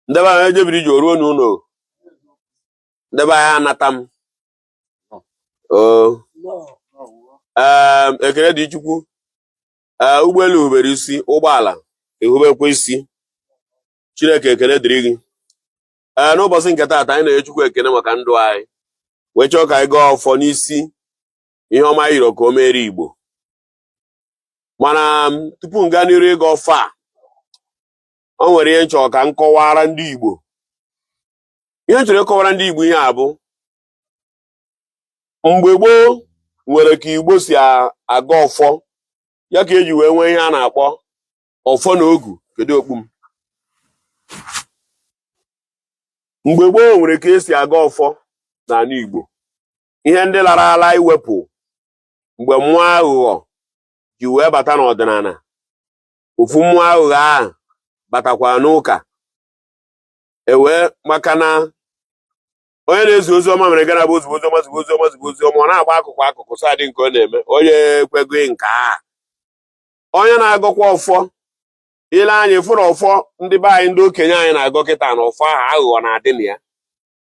ndị be anyị e jebiri ije o ruo n'ụlọ ndị be anyị anata m ekele dị chukwu ụgbọelu hubere isi ụgbọala ehubekwa isi chineke ekele dịrị gị ee n'ụbọchị nke taata anyị na-enye chukwu ekele maka ndụ anyị wee chọọ ka anyị gọọ ọfọ n'isi ihe ọma a yọrọ ka o mere igbo mana um, tupu m gaa n'iru ịgọ ọfọ a o nwere ihe m chọrọ ka m kọwara ndị Igbo ihe m chọrọ ịkọwara ndị Igbo ihe a bụ mgbe gboo o nwere ka Igbo si agọ ọfọ ya ka e ji wee nwee ihe a na-akpọ ọfọ na ogu kedu okpu m mgbe gboo o nwere ka e si agọ ọfọ n'ala Igbo ihe ndị lara ala iwepụ mgbe mmụọ aghụghọ ji wee bata n'ọdịnala ofu mmụọ aghụghọ ahụ batakwa n'ụka ewee maka na onye na-ezi ozi ọma mere ga na-abụ o zibe oziọma zibe oziọma zibe oziọma ọ na-agba akụkụ akụkụ so adị nke ọ na-eme onye ekwego nke a onye na-agọkwa ọfọ i lee anya ị fụrụ ọfọ ndị be anyị ndị okenye anyị na-agọ kịta na ọfọ ahụ aghụghọ na-adị na ya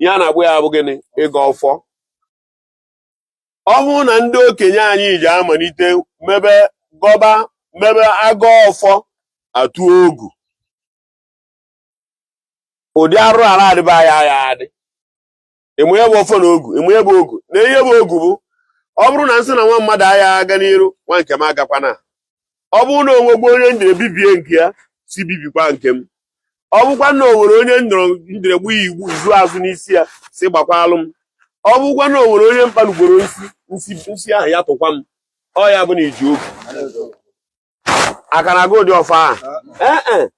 ihe a na-akpọ ya bụ gịnị ịgọ ọfọ ọ bụrụ na ndị okenye anyị ji amalite mebe gọba mebe agọ ọfọ atụ ogu ụdị arụrụ ala adịba ya ya adị ị ma ihe bụ ọfọ na ogu ị ma ihe bụ ogu na ihe bụ ogu bụ ọ bụrụ na m sị na nwa mmadụ agha aga n'iru nwa nke m agakwana ọ bụrụ na o nwegbu onye m jere bibie nke ya sị bibikwa nke m ọ bụkwa na o nwere onye m jere gbaa ya izu azụ n'isi ya sị gbakwalụ m ọ bụkwa na o nwere onye m kpanugboro nsi nsi nsi ahụ ya tụkwa m ọ ya bụ na i ji ogu aka na-agọ ụdị ọfọ ahụ Ee, e.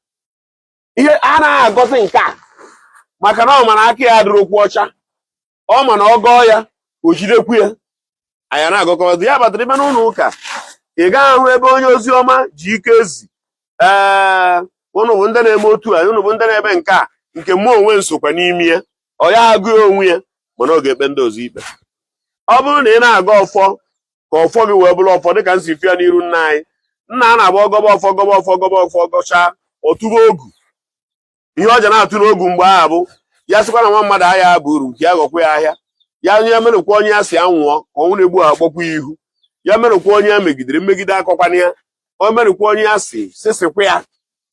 ihe anaghị agọzi nke a maka na ọ ma na aka ya adịrọkwu ọcha ọ ma na ọ gọọ ya o jidekwu ya anyị na-agọkwazi ya kpatara ime n'ụlọ ụka ị gaghị ahụ ebe onye ozi ọma ji ike ezi ee ụnụ bụ ndị na-eme otu a ụnụ bụ ndị na-eme nke a nke mụ onwe m sokwa n'ime ya ọ ya agụ onwe ya mana ọ ga-ekpe ndị ọzọ ikpe ọ bụrụ na ị na-agọ ọfọ ka ọfọ gị wee bụrụ ọfọ dịka m si fụ ya n'iru nna anyị na ọ na-abụ ọ gọba ọfọ gọba ọfọ gọba ọfọ gọchaa ọ tụba ogu ihe ọ ja na-atụ n'ogu mgbe ahụ bụ ya sịkwa na nwa mmadụ agha abụ uru nke ya ghọkwa ya ahịa ya nwerụkwa onye ya sị ya nwụọ ka ọnwụ na-egbu ha kpọkwa ya ihu ya nwerụkwa onye ya megidere mmegide akọkwana ya o nwerụkwa onye ya sị sịsịkwa ya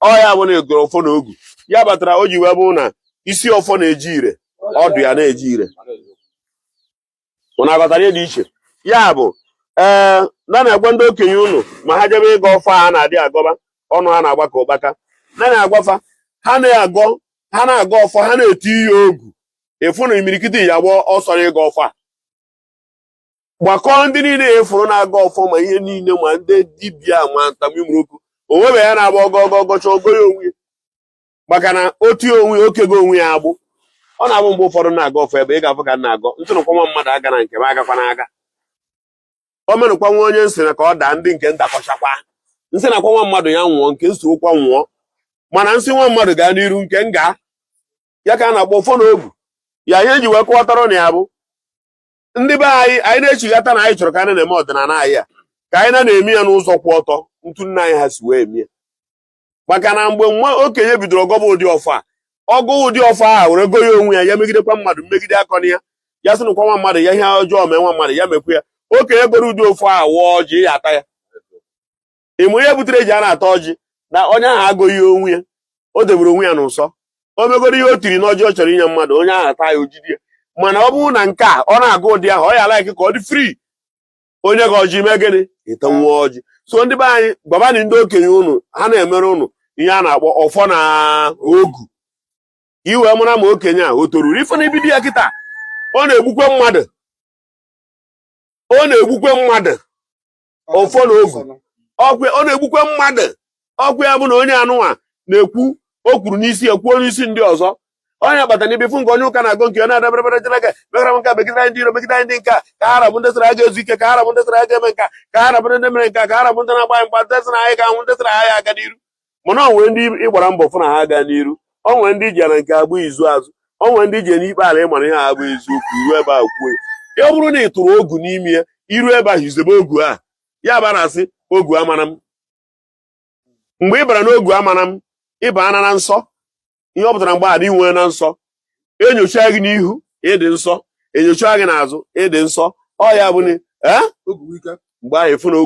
ọ ya bụ na a gọrọ ọfọ na ogu ya kpatara o ji wee bụ na isi ọfọ na-adị ire ọdụ ya na-adị ire ụnụ aghọtara ihe dị iche ya bụ ee na na-agwa ndị okenye ụnụ ma ha jebe ịgọ ọfọ a na-adị agọba ọnụ ha na-agba ka ụkpaka na na-agwafa ha na-agọ ha na-agọ ọfọ ha na-etiye ogu ị fụ na imirikiti ya gbaa ọsọ na ịgọ ọfọ a gbakọọ ndị niile a fụrụ na-agọ ọfọ ma ihe niile ma ndị dibịa ma ntamimroku onwebe ya na-agba ọ gọ ọ gọ ọ gọcha ọ gọ ya onwe ya maka na otu onwe o kego onwe ya agbụ ọ na-abụ mgbe ụfọdụ na-agọ ọfọ ebe ị ga-afụ ka na-agọ m sị nụkwa nwa mmadụ agana nke m agakwana aga o nwenụkwa nwa onye m sị na ka ọ daa ndị nke m dakọchakwa m sị nụkwa nwa mmadụ ya nwụọ nke m sorokwa nwụọ mana m sị nwa mmadụ gaa n'iru nke m gaa ya ka a na-akpọ ọfọ na ogu ya ihe ji wee kọwatara na ya bụ ndị be anyị anyị na-echighata na anyị chọrọ ka anyị na-eme ọdịnala anyị a ka anyị na-eme ya n'ụzọ kwụ ọtọ etu nna anyị ha si wee eme ya maka na mgbe nwa okenye bidoro ọ gọba ụdị ọfọ a ọ gọọ ụdị ọfọ a were gọọ ya onwe ya ya megidekwa mmadụ mmegide akọna ya ya sị nụkwa nwa mmadụ ya ihe ọjọọ mee nwa mmadụ ya mekwa ya okenye gọrọ ụdị ọfọ a waa ọjị ya ata ya ị ma ihe butere e ji a na-ata ọjị na onye ahụ agọghị onwe ya o debere onwe ya n'ụsọ o megoro ihe o tiri n'ọjị ọ chọrọ inye mmadụ onye ahụ ata ya o jide ya mana ọ bụrụ na nke a ọ na-agọ ụdị ahụ ọ ya-alike ka ọ dị free o nye gị ọjị mee gịnị ị tanwu ọjị so ndị be anyị gwabanị ndị okenye ụnụ ha na-emere ụnụ ihe a na-akpọ ọfọ na ogu i wee mara ma okenye a o toruru ị fụ na i bido ya kịta ọ na-egbukwe mmadụ ọ na-egbukwe mmadụ ọfọ na ogu ọkwe ọ na-egbukwe mmadụ ọkwa ya bụ na onye anụnwa na-ekwu o kwuru n'isi ya kwuo n'isi ndị ọzọ onye agbata na ibifu nke onye ụka na-agọ nke ọ na-adaberebere jere ga megara m nke a megide anyị ndị iro megide anyị ndị nke a ka ha rabụ ndị sịrị aga ezu ike ka ha rabụ ndị sịrị aga eme nke a ka ha rabụ ndị mere nke a ka ha rabụ ndị na-agba mgba ndị sịrị anyị ga-anwụ ndị sịrị anyị aga n'iru mana o nwere ndị ị gbara mbọ fụ na ha aga n'iru ọ nwere ndị ji ya na nke abụ izu azụ ọ nwere ndị ji ya n'ikpe ala ị mara ihe ha abụ eziokwu i ru ebe a kwuo ya ọ bụrụ na ị tụrụ ogu n'ime ya i ru ebe ahụ i zebe ogu a ya bara a sị ogu amara m mgbe ị bara n'ogu amara m ị baana na nsọ ihe ọ pụtara mgbe a i nweena nsọ e nyochaa gị n'ihu ị dị nsọ e nyochaa gị n'azụ ị dị nsọ ọ ya bụ mgbe ahụ ị fụ na ogu